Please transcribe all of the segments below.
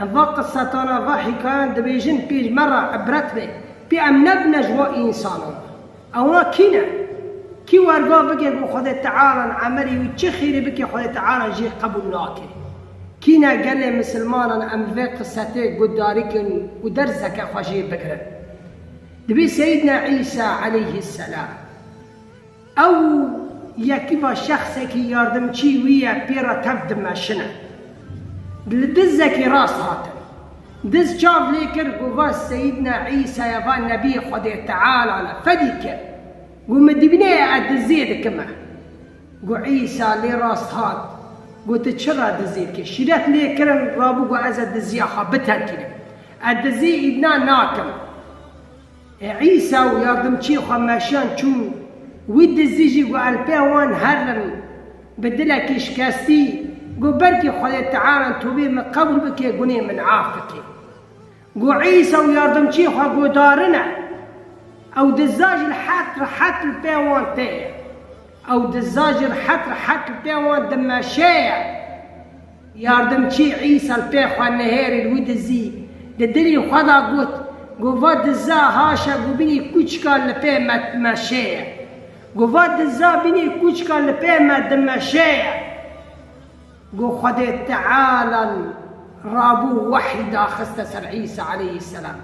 Em va qisetanan, va hîkayan dibêjin pêş me re îbret be, pê em nebine ji wan însanan. Ewna kî ne? Kî werga bike ku Xwedê Teala in emelî û çi xêrî bike Xwedê Teala jê qebûl nake? Kî ne gelê misilmanan em bi vê qisetê guhdarî kin û derseke xwe jê bigirin? Divê Seyîdna Îsa eleyhîsselam. Ew yekî va şexsekî yardimçî wî ye pê re tev dimeşine. Li dizekî rast hatin. Diz çav lê kir ku va Seyîdna Îsa ye va Nebîyê Xwedê Teala ne fedî ke ku min dibîne ye ez dizê dikim e. Ku Îsa lê rast hat ku tu çi re dizê dikî? Şîret lê kirin rabû ku ez e diziya xwe biterkînim. Ez dizê îdna nakim. Îsa û yardimçiyê xwe meşiyan çûn. Wî dizî jî ku elpê wan herr in. Bi dilekî şikestî got, Belkî Xwedê Teala tovê min qebûl bike, gunê min af bike. Ku Îsa û yardimçiyê xwe guhdarine, ew diza jî rehet rehet li pê wan tê ye. Ew diza jî rehet rehet li pê wan dimeşeye. Yardimçî Îsa li pê xwe nihêrî li wî dizî. Di dilî xwe de got, Ku va diza haşa ku bînî kûçika li pê me dimeşê ye. Ku va diza bînî kûçika li pê me dimeşê ye. Ku Xwedê Teala li rabû wehyî daxiste ser Îsa aleyhîsselam.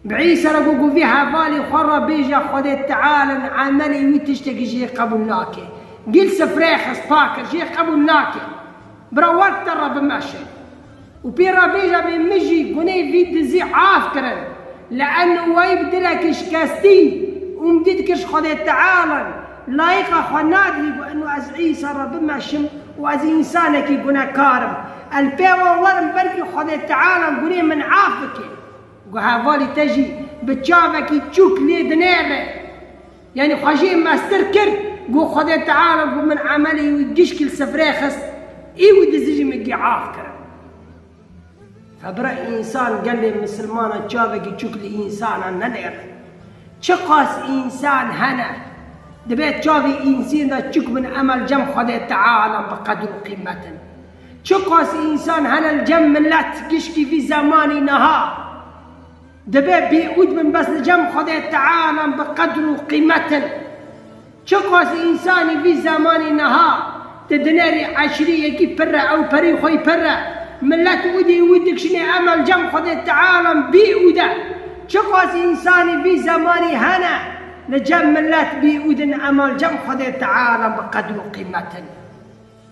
Îsa re got ku vê hevalê xwe re bêje Xwedê Tealin emelê wî tiştekî jê qebûl nake. Gil sifreyê xist pa kir jê qebûl nake. Bira wek te re bimeşe. Û pê re bêje bê min jî guneyê vî dizî af kirin. Li enû wayî bi dilekî şikestî, umdî dikir ji Xwedê Tealin, layiqa xwe nadîbî ku enû ez Îsa re bimeşim û ez însanekî gunekar im. Ez li pey wan werim belkî Xwedê Tealin guneyê min af bike. Ku hevalî te jî bi çavekî çûk lê dinêre. Yanî xwe jê mestir kir got Xwedê Teala ku min emelê wî gişkî li sifrê xist, ê wî dizî jî min gê af kirin. Febira însan gelê misilmanan çavekî çûk li însanan nenêre. Çiqas însan hene, dibê çavê însên de çûk bin emel cem Xwedê Teala bi qedir û qîmet in. Çiqas însan hene li cem milet giştî vî zemanî niha dibe bêûd bin bes li cem Xwedê Tealan bi qedr û qîmet in. Çiqas însanî vî zemanî niha di dinerî eşîrî yekî pir e, ewperî xweyî pir e, milet ûdî wî dikşinê eme li cem Xwedê Tealan bêûd e. Çiqas însanî vî zemanî hene li cem milet bêûd in ema li cem Xwedê Tealan bi qedr û qîmet in.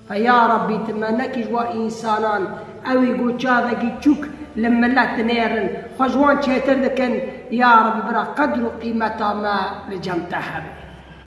He ya Rabbî tu me nekij wa însanan, ewî ku çavekî çûk li milet dinêrin, xwe ji wan çêtir dikin, ya Rabbî bira qedr û qîmeta me li cem te hebe.